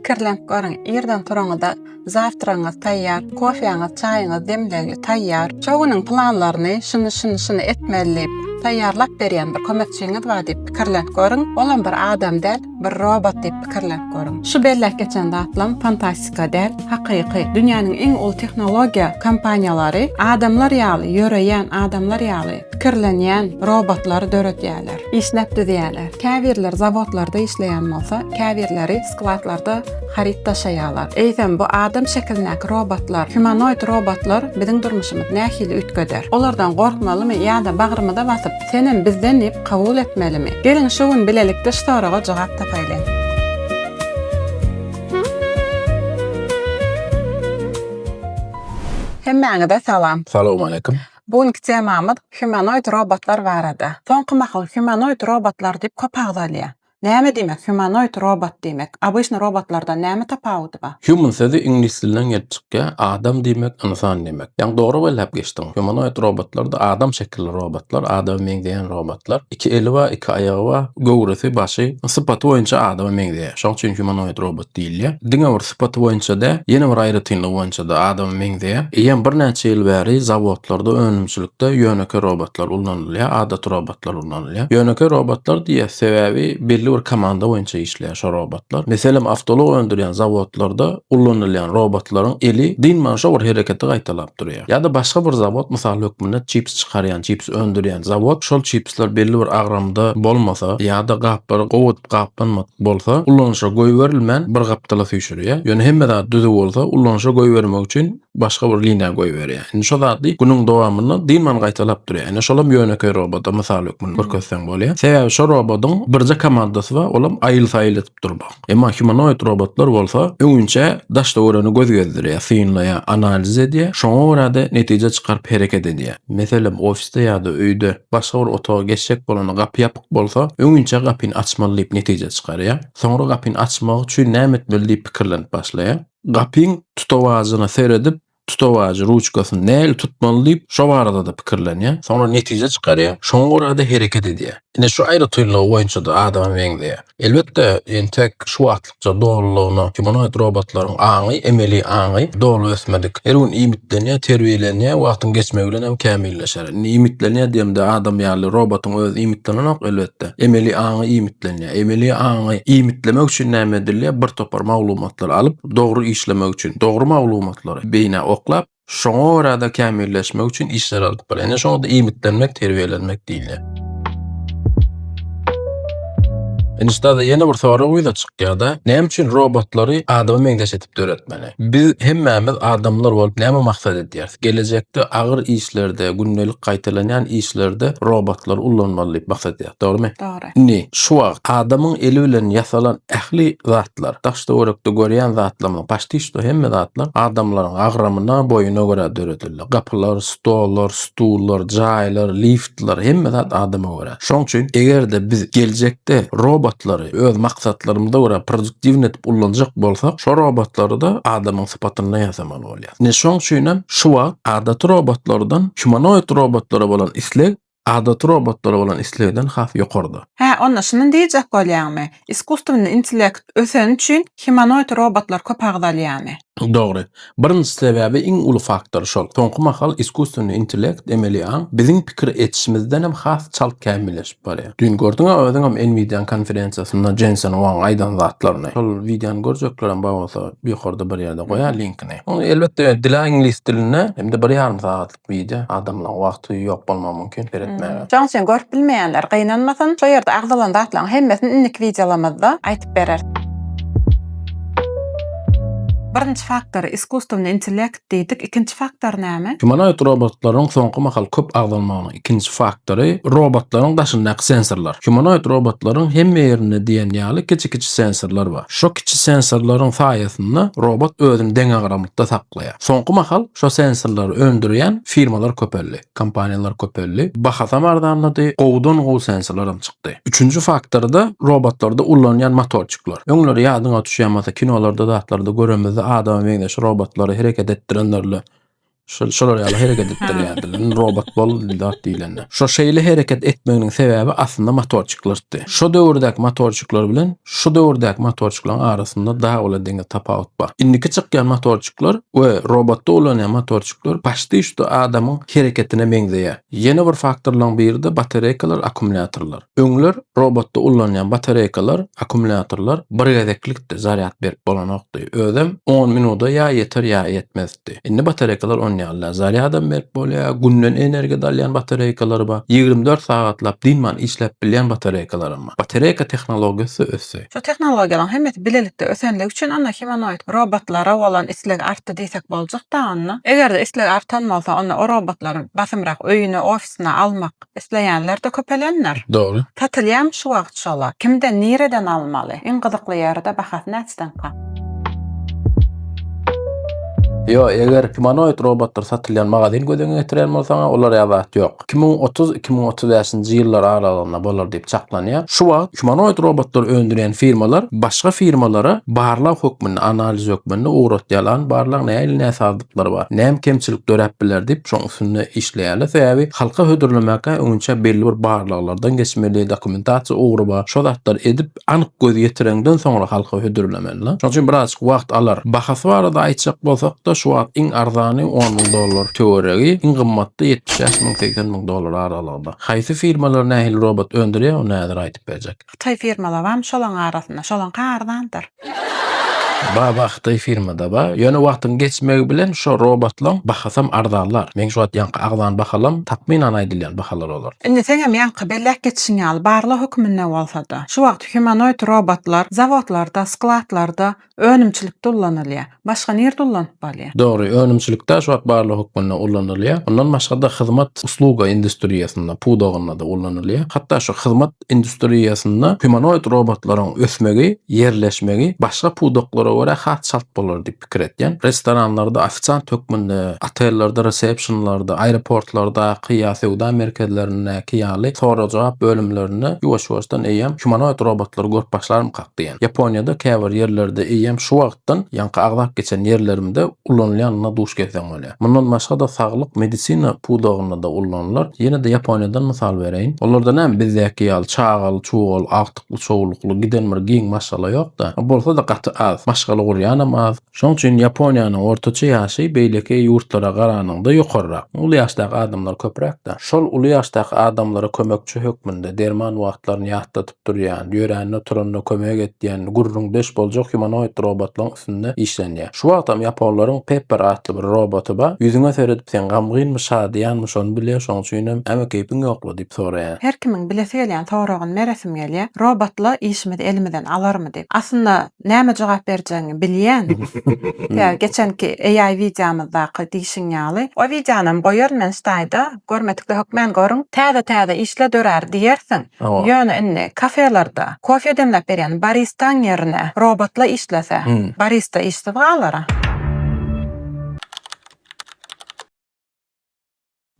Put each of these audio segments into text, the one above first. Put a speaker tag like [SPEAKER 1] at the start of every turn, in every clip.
[SPEAKER 1] Pikirlenip görüň, irden turaňyzda zawtragyňyz taýýar, kofeňiz, çaýyňyz demlegli, taýýar. Şo günüň planlaryny şuny, şuny, şuny etmeli diýip, taýýarlap berýän bir kömekçiňiz bar diýip pikirlenip görüň. Olam bir adam däl, bir robot diýip pikirlenip görüň. Şu belläp geçen zatlam fantastika däl, hakyky. Dünýäniň iň uly tehnologiýa kompaniýalary adamlar ýaly ýöreýän, adamlar ýaly pikirlenýän robotlary döredýärler. Işläp düzýärler. Käbirleri zawodlarda işleýän bolsa, käbirleri skladlarda haryt daşaýarlar. Eýsem, bu adam şekilindäki robotlar, humanoid robotlar biziň durmuşymyzy nähili üýtgeder? Olardan gorkmalymy ýa-da bagrymyza basyp, Senem bizden diýip kabul etmelimi? Geliň, şu gün bilelikde şu soraga jogap tapaýlyň. Hemmäňize salam. Salowmaleýkim.
[SPEAKER 2] Bu günki temamyz
[SPEAKER 1] humanoid robotlar barada. Soňky mahal humanoid robotlar diýip köp agzalýar. Näme diýmek humanoid robot diýmek? Obyçny robotlardan näme tapawudy bar? Human sözi iňlis
[SPEAKER 2] dilinden gelip çykýar, adam diýmek, ynsan diýmek. Ýaňy dogry belläp geçdiň. Humanoid robotlarda adam şekilli robotlar, adama meňzeýän robotlar. Iki eli bar, iki aýagy bar, göwresi, başy, sypaty boýunça adama meňzeýär. Şoň üçin humanoid robot. diýilýär. Diňe bir sypaty boýunça däl, ýene bir aýratynlygy boýunça-da adama meňzeýär. Eýýäm birnäçe ýyl bäri zawodlarda, önümçilikde ýönekeý robotlar ulanylýar, adaty robotlar ulanylýar. Ýönekeý robotlar diýýäs, sebäbi belli bir komanda boýunça işleýär şo robotlar. Meselem, awtoulag öndürýän zawodlarda ulanylýan robotlaryň eli dynman şo bir hereketi gaýtalap durýar. Ýa-da başga bir zawod, mysal hökmünde çips çykarýan, çips öndürýän zawod, şol çipsler belli bir agramda bolmasa ýa-da gaplary gowy edip gaplanmasa, bolsa, ulanyşa goýberilmän bir gapdala süýşürýär. Ýöne hemme zat düzüw bolsa, ulanyşa goýbermek üçin başga bir liniýa goýberýär. Indi şo zady günüň dowamynda dynman gaýtalap durýar. Ine, şolam ýönekeý roboda mysal hökmünde görkezseň bolýar. Sebäbi şo robodyň birje komandasy bar, olam aýyl-saýyl edip durmak. Emma humanoid robotlar bolsa, öňinçä daşda göreni göz gezdirýär, synlaýar, analiz edýär, şoňa görä-de netije çykaryp hereket edýär. Meselem, ofisde ýa-da öýde başga bir otaga geçjek bolanda gapy ýapyk, bolsa, öňinçä gapyny açmaly diýip netije çykarýar. Soňra gapyny açmak üçin näme etmeli diýip pikirlenip başlaýar. Gapyň tutawajyna seredip, tutawajy, ruçkasyny nähili tutmaly diýip, şo barada-da pikirlenýär. Soňra netije çykarýar. Şoňa görä-de hereket edýär. Ine, şu aýratynlygy boýunça-da adama meňzeýär. Elbetde, entek şu wagt Artykça dolulygyna humanoid robotlaryň aňy, emeli aňy, doly ösmedik. Her gün iýmitlenýär, terbiýelenýär, wagtyň geçmegi bilen hem kämilleşer. Indi iýmitlenýär diýemde adam ýaly robotyň özi iýmitlenenok, elbetde. Emeli aňy iýmitlenýär. Emeli aňy iýmitlemek üçin näme edilýär? Bir topar maglumatlary alyp, dogry işlemek üçin, dogry maglumatlary beýnä oklap, Şoňa görä-de kämilleşmek üçin işler alnyp barýar. Ine şoňa-da iýmitlenmek, terbiýelenmek diýilýär. Indi ussat ýene bir sorag ýüze çykýar-da, näme üçin robotlary adama meňzeş edip döretmeli? Biz hemmämiz adamlar bolup näme maksat edýäris? Gelejekde agyr işlerde, gündelik gaýtalanýan işlerde robotlary ullanmaly diýip maksat edýäris, dogrumy? Dogry. Indi, şu
[SPEAKER 1] wagt,
[SPEAKER 2] adamyň eli bilen ýasalan ähli zatlar, daş-töwerekde görýän zatlarymyz, paçtiçto hemme zatlar adamlaryň agramyna, boýuna görä döredildi. Gapylar, stollar, stullar, jaýlar, liftler, hemme zat adama görä. Şonuň üçin, eger-de biz geljekde robotlary öz maksatlarymyza görä produktiwny edip ullanjak bolsak, şo robotlary-da adamyň sypatynda ýasamaly bolýar. Indi, şonuň üçin hem şu wagt adaty robotlardan humanoid robotlara bolan isleg adaty robotlara bolan islegden has ýokarda. Hä, onda şuny diýjek
[SPEAKER 1] bolýaňmy? Iskusstwny intellekt öseni üçin himanoid robotlar köp agzalýamy? Dogry.
[SPEAKER 2] Birinji sebäbi iň uly faktor şol. Soňky mahal iskusstwny intellekt, emeli aň, biziň pikir etişimizdenem has çalt kämilleşip barýar. Düýn gördüň-ä özüňem Nvidia-nyň konferensiýasynda Jensen Huang aýdan zatlaryny. Şol wideony görjeklerem bar bolsa ýokarda bir ýerde goýaý linkini. Ony elbetde dil-ä iňlis dilinde hem-de bir ýarym sagatlyk. Wide, adamlaň wagty ýok bolmagy mümkin seretmäge. Şoň üçin görüp bilmeýänler
[SPEAKER 1] gynanmasyn, şo ýerde agzalan zatlaryň hemmesini indiki wideolamyzda aýtyp bereris. Birinji faktory iskusstwny intellekt diýdik, ikinji faktor näme? Humanoid robotlaryň
[SPEAKER 2] soňky mahal köp agzalmagynyň ikinji faktory robotlaryň daşyndaky sensorlar. Humanoid robotlaryň hemme ýerinde diýen ýaly kiçi-kiçi sensorlar bar. Şo kiçi sensorlaryň saýasynda robot özüni deňagramlykda saklaýar. saklaýar. Soňky mahal şo sensorlary öndürýän firmalar köpeldi, kompaniýalar köpeldi, bahasam arzanlady, gowudan gowy sensorlaram çykdy. Üçünji faktorda robotlarda ulanýan motorçikler. Öňler ýadyňa düşýärmasa kinolarda zatlarda göremizde adama meňzeş robotlary hereket etdirenlerle şol şolar ýaly hereket etdirýärdiler. Indi robot bol zat diýlende. Şo şeýle hereket etmeginiň sebäbi aslynda motorçiklertdi. Şo döwürdäki motorçikler bilen Şu döwürdäki motorçyklaryň arasynda dag bilen deňiz tapawut bar. Indiki çykýan motorçyklar we robotda ulanýan motorçyklar paçti üçde adamyň hereketine meňzeýär. Ýene bir faktorlaryň biri-de batareýkalar, akkumulýatorlar. Öňler robotda ulanýan batareýkalar, akkumulýatorlar bir gezeklikdi, zarýad berip bolanokdy. Özem on minuda ýa ýeter ýa ýetmez. ýetdi. Indi batareýkalar on ýaly-da, zarýadam berip bolýar, günden energiýa alýan batareýkalar bar, ýigrimi dört sagatlap dynman işläp bilýän batareýkalaram bar. Batareýka tehnologiýasy ösdi. Şu tehnologiýalaryň
[SPEAKER 1] hemmesi bilelikde ösenligi üçin onda himanoid robotlara bolan isleg artdy diýsek boljak-da onda. Eger-de isleg artan bolsa, onda o robotlaryň basymrak öýüne, ofisine almak, Isleýänler-de köpelendir. Dogry. Satylýamy
[SPEAKER 2] şu wagt
[SPEAKER 1] şolar? Kimden, nireden almaly? Iň gyzykly ýeri-de bahasy näçedenka?
[SPEAKER 2] Ýo, eger humanoid robotlar satylýan magazin göz öňüne getirýän bolsaňa, olar ýa zat ýok. Iki müň otuz, iki müň otuz bäşinji ýyllar aralygynda bolar diýip çaklanýar. Şu wagt humanoid robotlary öndürýän firmalar başga firmalara barlag hökmünde, analiz hökmünde ugratýarlan barlag nähili näsazlyk. ýagdaýlary bar. Näme kemçilik döräp biler diýip, şoň üstünde işleýärler. Sebäbi halka hödürlemäkä öňünçä belli bir barlaglardan geçmeli, dokumentasiýa ugry bar. Şo zatlary edip, anyk göz ýetireňden soňra halka hödürlemeliler. Şonuň üçin birazajyk wagt alar. Bahasy barada aýtjak bolsak-da, şu wagt iň arzany on müň dollar töweregi, iň gymmaty ýetmiş bäş müň, segsen müň dollar aralygynda. Haýsy firmalar nähili robot öndürýär, ony häzir aýdyp berjek. Hytaý firmalabam
[SPEAKER 1] şolaň arasynda, şolaňky arzandyr.
[SPEAKER 2] Baba hytaý firmadaba ýöne wagtyň geçmegi bilen şo robotlaň bahasam arzanlar meň şu wagt ýaňky agzan bahalam takmynan aýdylýan bahalar olar. Indi seňem ýaňky
[SPEAKER 1] belläp geçişiň ýaly barlag höküminde bolsada şu wagt humanoid robotlar zawodlarda skladlarda Önümçilikde ullanylýar. Başga nirde ullanyp bolýar? Dogry, önümçilikde
[SPEAKER 2] aşwat barlygy hökmünde ullanylýar. Mundan başga-da hyzmat, usluga, industriýasynda, pudagynda-da ullanylýar. Hatda şu hyzmat industriýasynda humanoid robotlaryň ösmegi, ýerleşmegi başga pudaklara görä has çalt bolar diýip pikir etýän. Restoranlarda ofisiant hökmünde, otellerde resepsionlarda, aeroportlardaky ýa söwda merkezlerindäki ýaly sorag-jogap bölümlerinde ýuwaş-ýuwaşdan eýýäm humanoid robotlary görüp başlarmyka? diýen. Ýaponiýada käbir ýerlerde eýýäm şu wagtdan ýaňky agzap geçen ýerlerimde ulanylýanyna duş gelseň bolýar. Mundan başga-da saglyk medisina pudagynda-da ulanylar. Ýene-de Ýaponiýadan mysal bereýin. Olarda näme bizdäki ýaly çagaly çugal, agtykly çowlukly giden bir giň maşgala ýok-da. Bolsa-da gaty az. Maşgala gurýanam az. Şonuň üçin Ýaponiýanyň ortaça ýaşy beýleki ýurtlara garanyňda ýokarrak. Uly ýaşdaky adamlar köpräk-dä. Şol uly ýaşdaky adamlara kömekçi hökmünde derman wagtlaryny ýatladyp, durýan, ýörände-turanda kömek edýän, gürrüňdeş boljak humanoid robotlaryň üstünde işlenýär. Şu wagtam ýaponlaryň Pepper atly bir roboty bar. Ýüzüňe seredip sen gamgynmy, şadyýanmy şony bilýär, şoň üçinem Äme keýpiň ýokla? diýip soraýar. Her kimiň bilesi gelýän
[SPEAKER 1] soragyny meresim gelýär, Robotla işimizi elimizden alarmy diýip. Aslynda näme jogap berjegiňi bilýän. Tä geçenki AI wideomyzdaky diýşiň ýaly. O wideonam goýaryn men staýda, görmedikde hökmän görüň. Täze-täze işler dörär diýersiň. Ýöne indi kafelerde kofe demläp berýän baristaň ýerine robotla işlese, barista işsiz galar-a.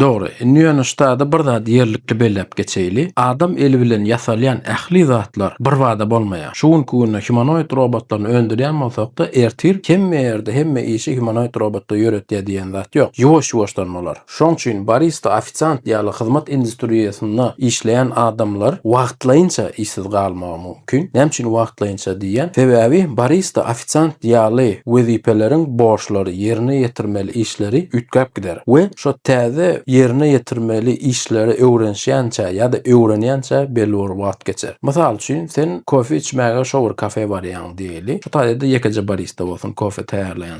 [SPEAKER 2] Dogry. Indi ýöne ştada bir zady ýerlikli belläp geçeýli. Adam eli bilen ýasalýan ähli zatlar birbada bolmaýar. Şu günki günde humanoid robotlaryny öndürýän bolsak-da, ertir hemme ýerde hemme işi humanoid robotlar ýöretýär diýen zat ýok. Ýuwaş-ýuwaşdan bolar. Şoň üçin barista, ofisiant ýaly hyzmat industriýasynda işleýän adamlar wagtlaýynça işsiz galmagy mümkin. Näme üçin wagtlaýynça diýýän? Sebäbi barista, ofisiant ýaly wezipeleriň borçlary, ýerine ýetirmeli işleri üýtgäp gider we şo täze ýerine ýetirmeli işleri öwrenişýänçä ýa-da öwrenýänçä belli bir wagt geçer. Mysal üçin, sen kofe içmäge şo bir kafe barýaň diýeli. Şu taýda-da ýekeje barista bolsun kofe taýýarlaýan.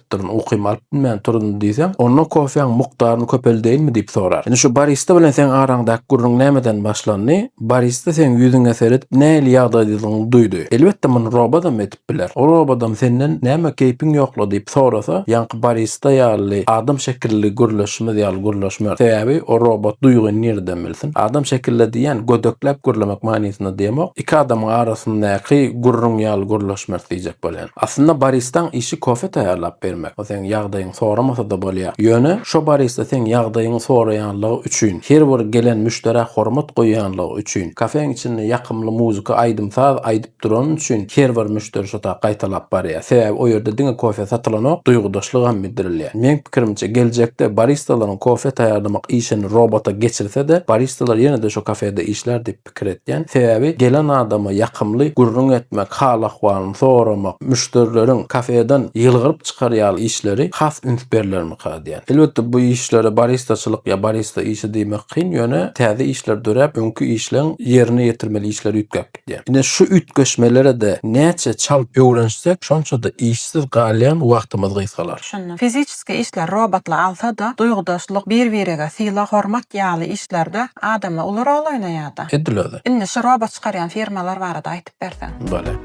[SPEAKER 2] ýatypdyryn, ukymy alyp bilmän turun diýseň, onda kofäň mukdaryny köpeldeýinmi diýip sorar. Indi şu barista bilen seň araňdaky gürrüň nämeden başlandy? Barista seň ýüzüňe seredip nähili ýagdaýdadygyňy duýdy. Elbetde muny robodam edip biler. O robodam senden näme keýpiň ýokla diýip sorasa, ýaňky barista ýaly adam şekilli gürleşimiz ýaly gürleşmer. Sebäbi o robot duýgyny nireden bilsin. Adam şekilli diýýän gödekläp gürlemek manysynda diýemok. Iki adamyň arasyndaky gürrüň ýaly gürleşmek diýjek bolýan. Aslynda baristaň işi kofe taýýarlap bermek. Ol seň ýagdaýyňy soramasa-da bolýar. Ýöne, şo barista seň ýagdaýyňy soraýanlygy üçin, her bir gelen müşderä hormat goýýanlygy üçin, kafeň içinde ýakymly muzika, aýdym-saz aýdyp durany üçin her bir müşderi şo tak gaýtalap barýar. Sebäbi o ýerde diňe kofe satylanok, duýgudaşlygam bildirilýär. Meň pikirimçe, geljekde baristalaryň kofe taýýarlamak işini robota geçirse-de, baristalar ýene-de şo kafede işlär diýip. pikir etýän. Sebäbi gelen adama ýakymly gürrüň etmek, hal-ahwalyny soramak, müşderileriň kafeden ýylgyryp çykar ýaly işleri has üns berilermika diýýän. Elbetde, bu işlere baristaçylyk ýa barista işi diýmek kyn, ýöne täze işler döräp, öňki işleň ýerine ýetirmeli işleri üýtgäp gidýär. Ine, şu üýtgeşmelere-de näçe çalt öwrenişsek, şonça-da işsiz galýan wagtymyz gysgalar. Düşündim. Fiziç Fiziki
[SPEAKER 1] işler robotlar alsa-da, duýgudaşlyk, bir-birege sylag-hormat ýaly işlerde adamlar uly rol oýnaýar-da. Edil özi. Indi şu
[SPEAKER 2] robot çykarýan
[SPEAKER 1] firmalar barada aýtyp berseň. Bolýar.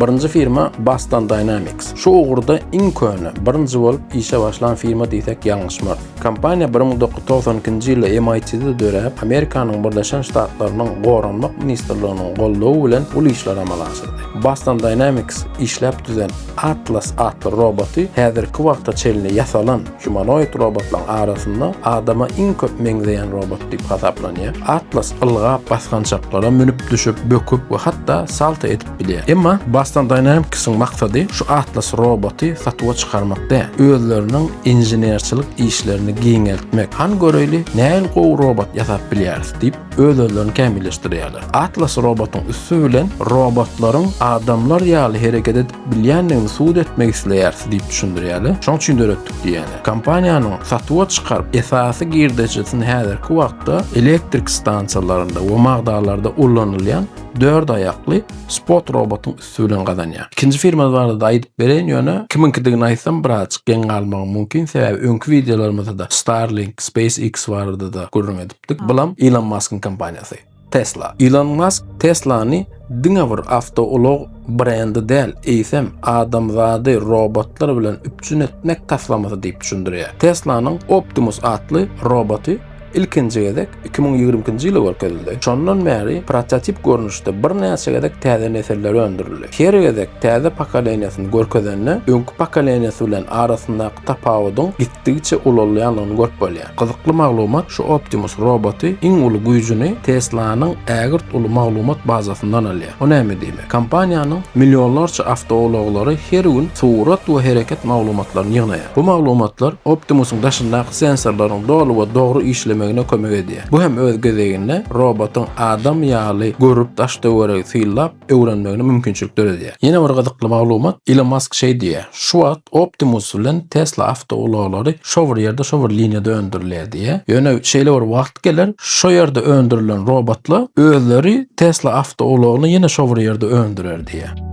[SPEAKER 2] Birinji firma Boston Dynamics. Şu ugurda iň köne, birinji bolup işe başlan firma diýsek ýalňyşmarys. Kompaniýa bir müň dokuz ýüz togsan ikinji ýylda MIT-de döräp, Amerikanyň Birleşen Ştatlarynyň Goranmak ministrliginiň goldawy bilen uly işleri amala aşyrdy. Boston Dynamics işläp düzen Atlas atly roboty häzirki wagta çenli ýasalan humanoid robotlaryň arasynda adama iň köp meňzeýän robot diýip hasaplanýar. Atlas ylgap, basgançaklara münüp, düşüp, böküp we hatda salto edip bilýär. Emma Boston Dynamics-iň maksady şu Atlas roboty satuwa çykarmak däl, özleriniň inženerçilik işlerini giňeltmek. Hany göreýli, nähili gowy robot ýasap bilýäris diýip, öz-özlerini kämilleşdirýärler. Atlas robotyň üsti bilen robotlaryň adamlar ýaly hereket edip bilýändigini subut etmek isleýäris diýip düşündirýärler. Şoň üçin döretdik diýýärler. Kompaniýanyň satuwa çykaryp esasy girdejisini häzirki wagtda elektrik stansiýalarynda we magdalarda ulanylýan dört aýakly spot robotyň üsti bilen gazanýar. Ikinji firma barada-da aýdyp bereýin, ýöne kimiňkidigini aýtsam birazjyk geň galmagym mümkin, sebäbi öňki wideolarymyzda-da Starlink, SpaceX barada-da gürrüň edipdik. Dik bulam Ilon Maskyň kompaniýasy, Tesla. Ilon Mask Teslany diňe bir awtoulag brendi däl, eýsem, adamzady robotlar bilen üpjün etmek taslamasy diýip düşündirýär. Teslanyň Optimus atly roboty ilkinji gezek iki müň ýigrimi ikinji ýylda görkezildi. Şondan bäri prototip görnüşde birnäçe gezek täze nesilleri öndürildi. Her gezek täze pokoleniýasyny görkezende, öňki pokoleniýasy bilen arasyndaky tapawudyň gitdigiçe ulalýandygyny görüp bolýar. Gyzykly maglumat şu Optimus roboty iň uly güýjüni Tesla-nyň ägirt uly maglumat bazasyndan alýar. Bu näme diýmek? Kompaniýanyň millionlarça awtoulaglary her gün surat we hereket maglumatlaryny ýygnaýar. Bu maglumatlar Optimus-yň daşyndaky sensorlaryň doly we dogry işlemegine kömek edýär. Bu hem öz gezeginde robotyň adam ýaly görüp daş-töweregi synlap, öwrenmegine mümkinçilik döredýär. Ýene bir gyzykly maglumat, Ilon Mask şeý diýýär, Şu wagt Optimus bilen Tesla awtoulaglary şo bir ýerde, şo bir liniýada öndürilýär diýýär. Ýöne şeýle bir wagt geler, şo ýerde öndürilen robotlar özleri Tesla awtoulagny ýene şo bir ýerde öndürer diýýär.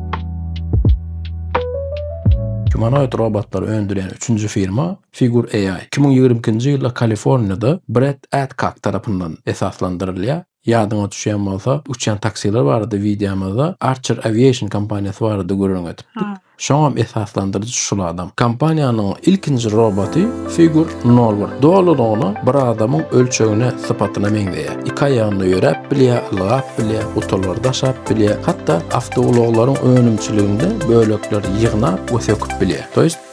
[SPEAKER 2] Humanoid robotlary öndürýän üçünji firma Figure AI iki müň ýigrimi ikinji ýylda Kaliforniýada Brett Adcock tarapyndan esaslandyrylýar. Ýadyňa düşýän bolsa, uçýan taksiler barada wideomyzda Archer Aviation kompaniýasy barada gürrüň edipdik. Şoňam esaslandyryjy şul adam. Kompaniýanyň ilkinji roboty Figure nol bir. Dolulygyna bir adamyň ölçegine, sypatyna meňzeýär. Iki aýagynda ýöräp bilýär, ylgap bilýär, gutalary daşap bilýär, hatda awtoulaglaryň önümçiliginde bölekleri ýygnap we söküp bilýär.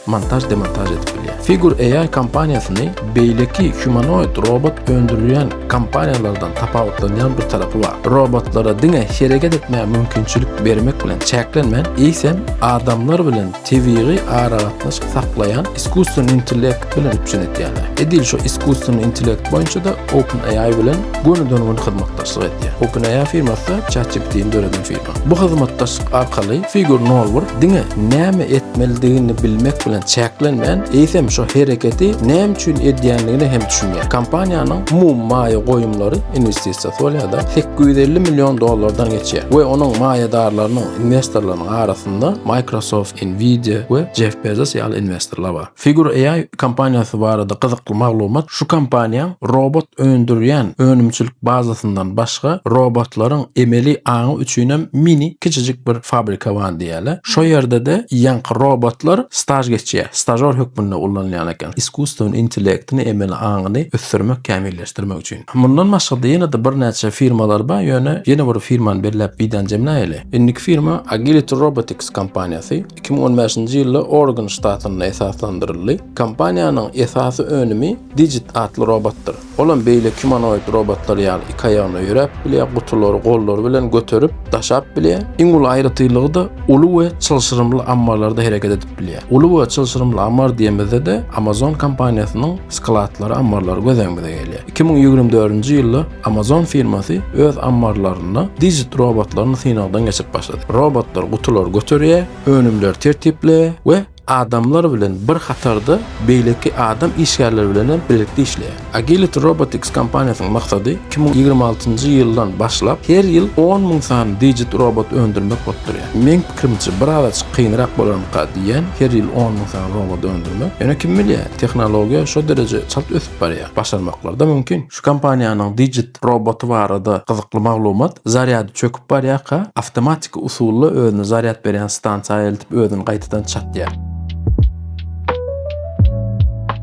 [SPEAKER 2] montaž-demontaž edip bilýär. Figure AI kompaniýasyny beýleki humanoid robot öndürilýän kompaniýalardan tapawutlanýan bir tarapy bar. Robotlara diňe hereket etmäge mümkinçilik bermek bilen çäklenmän, eýsem, adamlar bilen tebigy aragatnaşyk saklaýan iskussyony intellekt bilen üpjün edýärler. Edil şu iskussyony intellekt boýunça-da OpenAI bilen gönüden-göni hyzmatdaşlyk edýär. OpenAI firmasy ChatGPT-ni döreden firma. Bu hyzmatdaşlyk arkaly Figur Norwurk diňe näme etmelidigini bilmek bilen çäklenmän, eýsem şu hereketi näme üçin edýändigine hem düşünýär. Kompaniýanyň umumy maýa goýumlary, inwestisiýasy bolýar-da, sekiz ýüz elli million dollardan geçýär we onuň maýadarlarynyň, inwestorlarynyň arasynda Microsoft, Nvidia we Jeff Bezos ýaly inwestorlar bar. Figure AI kompaniýasy barada gyzykly maglumat şu kompaniýaň robot öndürýän önümçilik bazasyndan başga robotlaryň emeli aňy üçinem mini kiçijik bir fabrika bar diýýärler. Şo ýerde-de ýaňky robotlar staž geçýär, stažor hökmünde ullanylýan eken iskusstwen intellektini, emeli aňyny ösdürmek, kämilleşdirmek üçin. Mundan başga-da ýene-de birnäçe firmalar bar, ýöne ýene bir firmany belläp wideony jemläýeli. Indiki firma Agility Robotics kompaniýasy. Iki müň on bäşinji ýylda Oregon ştatynda esaslandyryldy. Kompaniýanyň esasy önümi Digit atly robotdyr. Olam beýleki humanoid robotlar ýaly iki aýagynda ýöräp bilýär, gutulary gollary bilen göterip, daşap bilýär. Iň uly aýratynlygy-da uly we çylşyrymly ammarlarda hereket edip bilýär. Uly we çylşyrymly ammar diýemizde-de Amazon kompaniýasynyň skladlary, ammarlary göz öňümize gelýär. Iki müň ýigrimi dördünji ýylda Amazon firmasy öz ammarlarynda Digit robotlaryny synagdan geçirip başlady. Robotlar gutulary göterýär, önümleri tertipleýär we adamlar bilen bir hatarda beýleki adam işgärleri bilen hem birlikde işleýär. Agility Robotics kompaniýasynyň maksady iki müň ýigrimi altynjy ýyldan başlap her ýyl on müň sany Digit robot öndürmek bolup durýar. Meň pikirimçe bir azajyk kynrak bolarmyka diýýän her ýyl on müň sany robot öndürmek. Ýöne kim bilýär, tehnologiýa şo dereje çalt ösüp barýar. Başarmaklar-da mümkin. Şu kompaniýanyň Digit roboty barada gyzykly maglumat, zarýady çöküp barýarka, awtomatiki usulda özüne zarýad berýän stansiýa eltip özüni gaýtadan çatýar.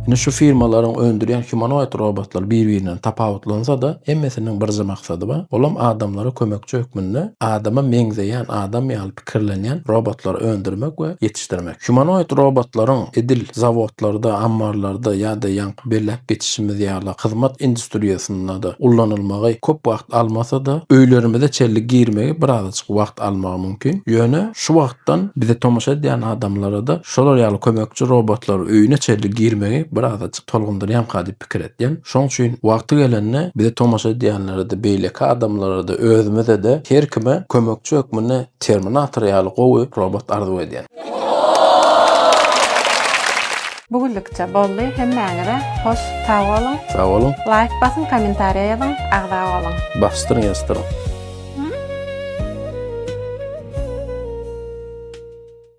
[SPEAKER 2] Ine şu firmalaryň öndürýän humanoid robotlar bir-birinden tapawutlansa-da, hemmesiniň birje maksady bar, olam adamlara kömekçi hökmünde adama meňzeýän adam ýaly kirlenýän robotlary öndürmek we ýetişdirmek. Humanoid robotlaryň edil zawodlarda, ammarlarda ýa-da ýaňky belläp geçişimiz ýaly hyzmat industriýasynda-da ullanylmagy köp wagt almasa-da, öýlerimize çenli girmegi birazajyk wagt almagy mümkin. Ýöne şu wagtdan bize tomaşa edýän adamlara-da şolar ýaly kömekçi robotlary öýüne çenli girmegi birazajyk tolgundyrýanka diýip pikir etýän. Şoň üçin wagty gelende bizi tomaşa edýänlere-de, beýleki adamlara-da, özümize-de, her kime kömekçi hökmünde Terminator ýaly gowy robot arzuw edýän.
[SPEAKER 1] Bu günlükçe boldy, hemmäňize hoş sag boluň! Sag boluň! Laýk basyň,
[SPEAKER 2] kommentariýa
[SPEAKER 1] ýazyň, agza boluň!
[SPEAKER 2] Basdyryň
[SPEAKER 1] ýazdyryň!